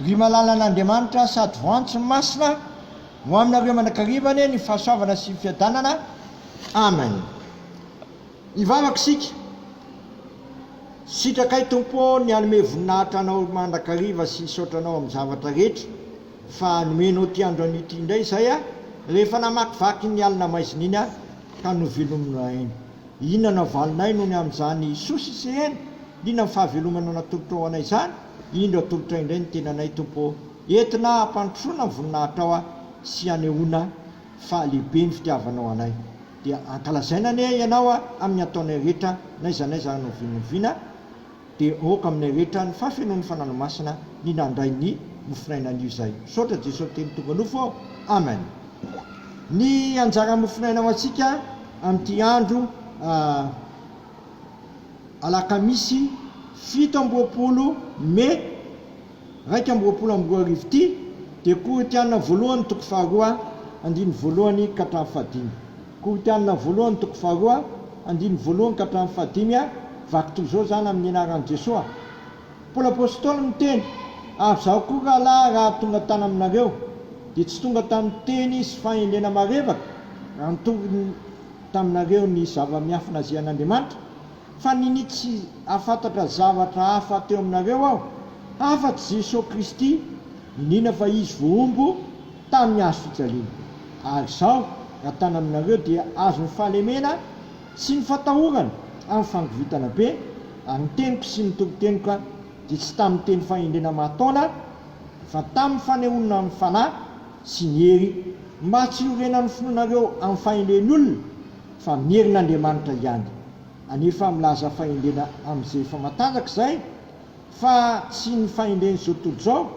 Ry malalan'Andriamanitra sady voantso masina, ho aminareo mandrakariva ny fahasoavana sy ny fiadanana. Amen. Hivavaka isika. Sitraka ahy Tompo ô ny hanome voninahitra Anao mandrakariva sy hisaotra Anao amin'ny zavatra rehetra fa nomenao ity andro anio ity indray izahay rehefa namakivaky iny alina maizina iny ka novelominao ahy iny. Inona no havalonay noho ny amin'izany soa sy sehena? Inona ny fahavelomana natolotrao ho anay izany? Indro atolotray indray ny tenanay, Tompo ô! Entina hampandrosoana ny voninahitrao aho sy hanehoana fa lehibe ny fitiavanao anay. Dia ankalazaina anie Ianao amin'ny ataonay rehetra, n'aiza n'aiza anovinoviana. Dia aoka aminay rehetra ny fahafenoan'ny Fanano Masina ny nandray ny mofonaina anio izay. Misaotra Jesoa Teny tonga nofo ô! Amen. Ny anjara mofonaina ho antsika amin'ity andro Alakamisy fito amby roapolo Mai iraika amby roapolo amby roa arivo ity dia Korintiana voalohany toko faharoa andininy voalohany ka hatramin'ny fahadimy. Korintiana voalohany toko faharoa andininy voalohany ka hatramin'ny fahadimy a Vaky toy izao izany amin'ny anaran'i Jesoa. Paoly Apostoly miteny, Ary izaho koa rahalahy raha tonga tany aminareo, dia tsy tonga tamin'ny teny sy fahendrena marevaka, raha nitory taminareo ny zava-miafina azy an'Andriamanitra, Fa nini tsy afantatra zavatra hafa teo aminareo aho hafa tsy Jesosy Kristy niniana fa Izy vohombo tamy ny hazo fijaliana. Ary izao raha tana aminareo dia azo ny fahalemena sy ny fatahorana amy fangovitana be, ary ny teniko sy ny toriteniko ka dia tsy tamy ny teny fahendrena mahataona fa tamy ny fanehonina amy ny fanahy sy ny hery, mba tsy hiorenany finoanareo amy fahendren olona Fa merina Andriamanitra hiany anefa milaza fahendrena amizay efa matanjaka izay fa tsy ny fahendreny zao tontolo zao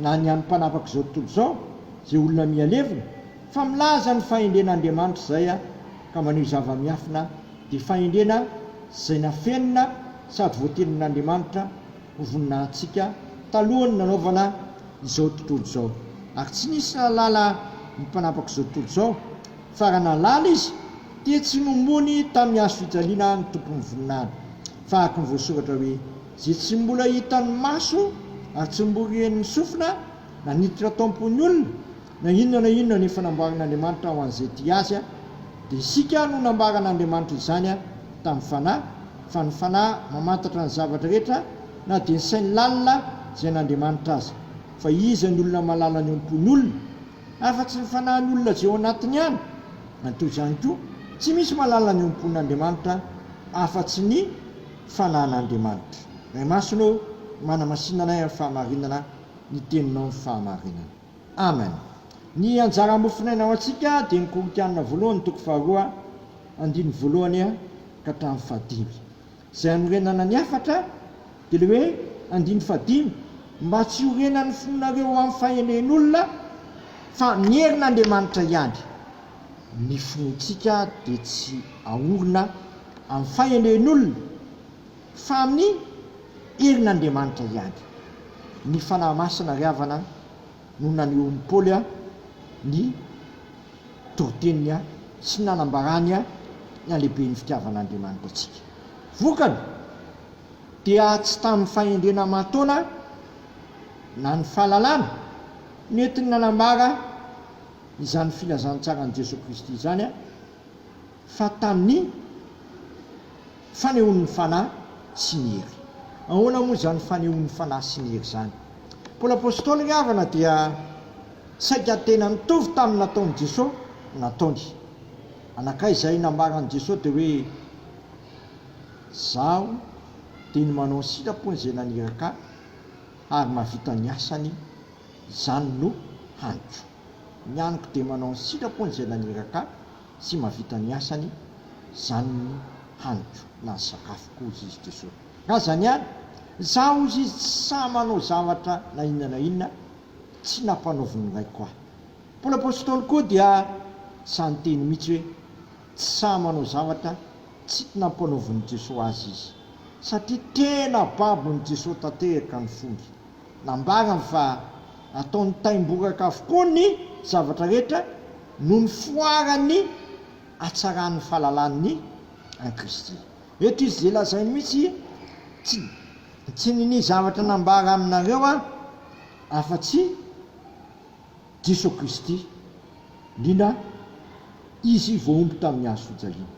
na ny any mpanapaka zao tontolo zao zay olona miha levona fa milaza ny fahendrena Andriamanitra izay a ka maneho zava miafina de fahendrena zay nafenina sady voatenin Andriamanitra ho voninahintsika talohan'ny nanaovana izao tontolo izao ary tsy nisy nahalala ny mpanapaka zao tontolo zao Tsara nahalala izy, dia tsy nomoany tamin'ny hazo fijaliana ny tompon'ny voninahiny. Fahaky ny voasoratra hoe, Izay tsy mbola hitan'ny maso, ary tsy mbola ren'ny sofina, na niditra tao am-pon'ny olona, na inona na inona ny efa namboarin'Andriamanitra ho an'izay tia Azy, dia isika no nambaran'Andriamanitra izany tamin'ny Fanahy, fa ny Fanahy mamantatra ny zavatra rehetra, na dia ny sain'ny lalina izay an'Andriamanitra aza. Fa iza ny olona mahalala ny am-pon'ny olona? Afa-tsy ny fanahin'olona izay ao anatiny ihany, na toy izany koa, tsy misy mahalala ny ompon'Andriamanitra afa-tsy ny fanahin'Andriamanitra. Ray Masina ô, manamasina anay amin'ny fahamarinana ny Teninao ny fahamarinana. Amen. Ny anjara mofonaina ho antsika dia ny Korintianina voalohany toko faharoa andininy voalohany ka hatramin'ny fahadimy. Izay hanorenana ny hafatra dia ilay hoe andininy fahadimy, mba tsy hiorenan'ny fonareo ho amin'ny fahenehen'olona, fa ny herin'Andriamanitra ihany. Ny fontsika dia tsy aorina amin'ny fahenehen'olona, fa amin'ny herin'Andriamanitra ihany. Ny Fanahy Masina ry havana no nanehoan'i Paoly ny toriteniny sy ny nanambarany ny halehiben'ny fitiavan'Andriamanitra antsika. Vokany, dia tsy tamin'ny fahendrena aman-taona na ny fahalalana no entiny nanambara izany filazantsaran'i Jesoa Kristy izany, fa tamin'ny. Fanehoan'ny Fanahy sy ny Hery. Ahoana moa izany fanehoan'ny Fanahy sy ny Hery izany? Paoly Apostoly ry havana dia saika tena nitovy tamin'ny nataon'i Jesoa ny nataony. Anakay izay nambaran'i Jesoa dia hoe, Izaho dia ny manao ny sitrapony izay naniraka ahy, ary mahavita ny asany, izany no haniko. Ny haniko dia manao ny sitrapony izay naniraka ahy. Tsy mahavita ny asany zany ny haniko na ny sakafoko hozy izy Jeso. Raha zany any, za hozy izy tsy sahy manao zavatra na inona na inona tsy nampanaovin'ny raiko ahy. Paoly Apostoly koa dia sahy niteny mitsy hoe tsy sahy manao zavatra tsy nampanaovin'i Jeso azy izy. Satria tena babon'i Jeso tanterka ny fongy. Nambarany fa ataon'ny taimboraka avokoa ny zavatra rehetra noho ny foaran'ny hatsaran'ny fahalalahan'ny an'i Kristy. Eto izy dia lazainy mihitsy, Tsy, tsy ninia zavatra nambara aminareo aho afa-tsy Jesoa Kristy, liana Izy voahombo tamin'ny hazofijaliana.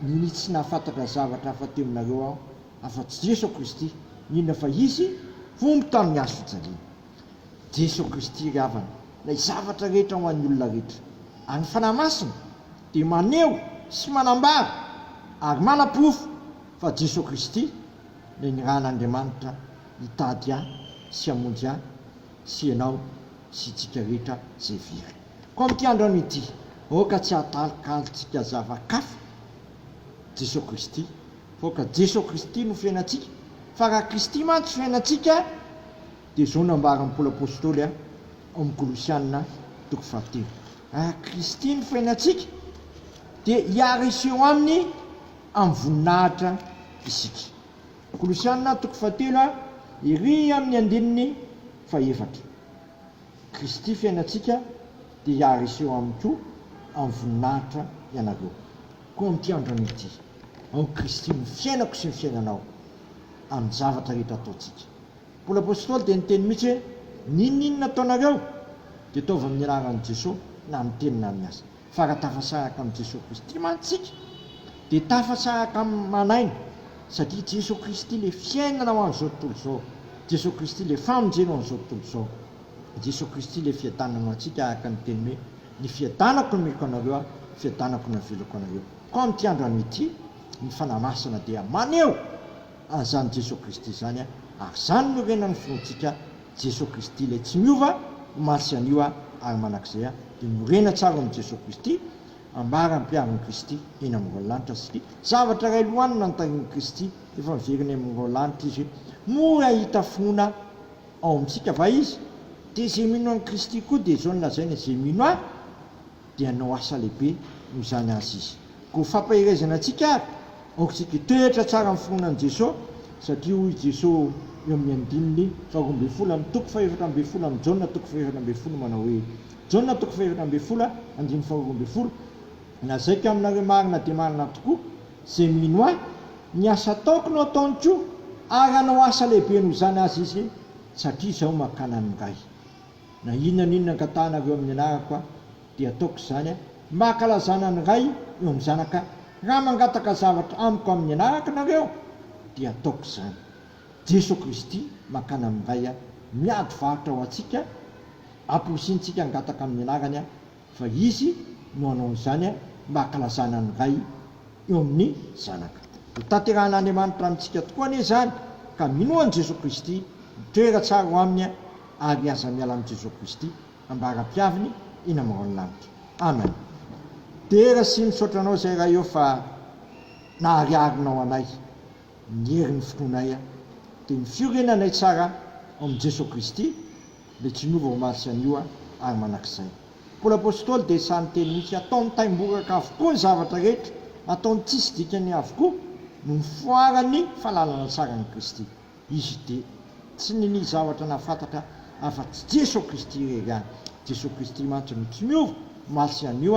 Ninia tsy nahafantatra zavatra hafa teo aminareo aho Afa-tsy Jeso Kristy, n'inona fa Izy omby tamin'ny hazo fijaliana. Jeso Kristy ry havana, ilay zavatra rehetra ho an'ny olona rehetra. Ary ny Fanahy Masina dia maneho sy manambara ary manaporofo fa Jeso Kristy ilay nirahan'Andriamanitra hitady ahy sy hamonjy ahy sy ianao sy itsika rehetra izay very. Koa amin'ity androany ity, aoka tsy hahalikalintsika zava-kafa Jeso Kristy, Vao ka Jeso Kristy no fiainantsika, fa raha Kristy mantsy fiainantsika dia izao nambaran'i Paoly Apostoly ao amin'ny Kolosiana toko fahatelo, raha Kristy no fiainantsika dia hiara-hiseho aminy amin'ny voninahitra isika. Kolosiana toko fahatelo ery amin'ny andininy fahefatra. Kristy fiainantsika dia hiara-hiseho aminy koa amin'ny voninahitra ianareo. Koa amin'ity andronay ity, ao Kristy no fiainako sy ny fiainanao, amin'ny zavatra rehetra ataontsika. Paoly Apostoly dia niteny mihitsy hoe, N'inon'inona ataonareo, dia ataovy amin'ny anaran'i Jesoa, na amin'ny teny na amin'ny asa. Fa raha tafasa araka amin'i Jesoa Kristy mantsy isika, dia tafasa araka amin'ny man'aina, satria i Jesoa Kristy ilay fiainana ho an'izao tontolo izao, Jesoa Kristy ilay famonjena ho an'izao tontolo izao, Jesoa Kristy ilay fiadanana ho antsika araka ny teny hoe, Ny fiadanako nomeko anareo aho, fiadanako no avelako anareo. Koa amin'ity andro anio ity, ny Fanahy Masina dia maneho an'izany Jesoa Kristy izany, ary izany no renan'ny finoantsika, Jesoa Kristy ilay tsy miova, omaly sy anio ary mandrakizay, dia morena tsara ao amin'i Jesoa Kristy, ambara ampiharin'i Kristy eny amin'ny rahon'ny lanitra satria zavatra iray lohanina notarihin'i Kristy, efa miverina eny amin'ny rahon'ny lanitra Izy, mora hahita finoana Ao amintsika va izy? Dia izay mino an'i Kristy koa dia izao no lazaina, izay mino ahy dia hanao asa lehibe noho izany asa izy. Koa ho fampaherezana antsika ary, aokantsika hitoetra tsara amin'ny fironan'i Jesosy, satria hoy Jesosy eo amin'ny andininy faharoa ambin'ny folo amin'ny toko fahefatra ambin'ny folo amin'i Jaona toko fahefatra ambin'ny folo manao hoe, Jaona toko fahefatra ambin'ny folo andininy faharoa ambin'ny folo, Lazaiko aminareo marina dia marina tokoa, izay mino Ahy, ny asa ataoko no ataony koa, ary hanao asa lehibe noho izany aza izy, satria Izaho mankany amin'ny Ray. Na inona na inona angatahanareo amin'ny anarako Aho, dia hataoko izany, mba hankalazana ny Ray eo amin'ny Zanaka. Raha mangataka zavatra Amiko amin'ny anarako nareo, dia hataoko izany. Jeso Kristy mankany amin'ny Ray miady varotra ho antsika, amporisihiny-tsika hangataka amin'ny anarany Ahy. Fa Izy no hanao an'izany mba hankalazana ny Ray eo amin'ny Zanaka. Hotanterahan'Andriamanitra amintsika tokoa anie izany, ka minoa an'i Jesoa Kristy, mitoera tsara ao Aminy ary aza miala amin'i Jesoa Kristy, ambara-piaviny eny amin'ny rahon'ny lanitra. Amen. Dera sy misaotra Anao izay Ray ô fa nahariharinao anay, ny herin'ny finoanay dia ny fiorenanay tsara ao amin'i Jesoa Kristy, dia tsy niova omaly sy anio ary manak'izay. Paoly Apostoly dia sahy niteny mihitsy, ataony taimboraka avokoa ny zavatra rehetra, ataony tsisy dikany avokoa no nifoaran'ny fahalalana tsara an'i Kristy. Izy dia tsy ninia zavatra nahafantatra afa-tsy Jeso Kristy irery ihany. Jeso Kristy mantsy no tsy miova omaly sy anio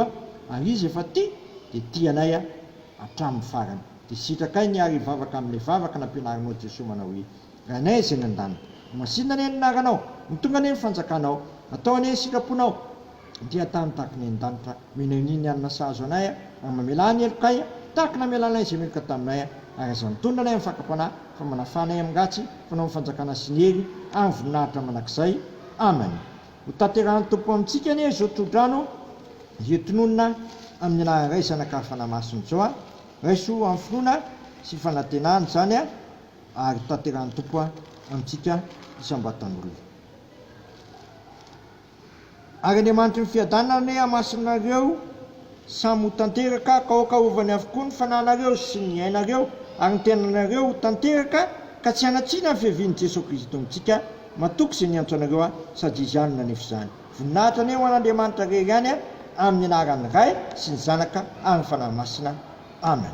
ary Izy efa tia dia tia anay hatramin'ny farany. Dia sitrakay ny ary hivavaka amin'ilay vavaka nampianarinao Jeso manao hoe, Ranay izay any an-danitra. Masina anie ny anaranao. Mitondra anie ny fanjakanao. Atao anie ny sitraponao. Dia an-tany tahaka ny any an-danitra. Mino anie ny alina sahazo anay ary mamelà ny helokay, tahaka ny namelanay izay meloka taminay, ary aza mitondra anay amin'ny fakam-panahy, fa manafà anay amin'ny ratsy, fanao ny fanjakana sy ny hery ary ny voninahitra mandrakizay. Amen. Hotanterahan'ny Tompo amintsika anie izao tsodrano izay tononina amin'ny anaran'ny Ray, Zanaka ary Fanahy Masina izao. Raiso amin'ny finoana sy fanantenana izany. ary tanterahin'ny Tompo amintsika isam-batan'olona. Ary Andriamanitry ny fiadanana anie hamasinina anareo samy ho tanteraka ka aoka arovany avokoa ny fananareo sy ny ainareo ary ny tenanareo ho tanteraka ka tsy hanatsina ny fiavian'i Jesoa Kristo amintsika matoky izay niantso anareo aho sady Izy ihany no nanefa izany. Voninahitra anie ho an'Andriamanitra rery ihany amin'ny anaran'ny Ray sy ny Zanaka ary ny Fanahy Masina. Amen.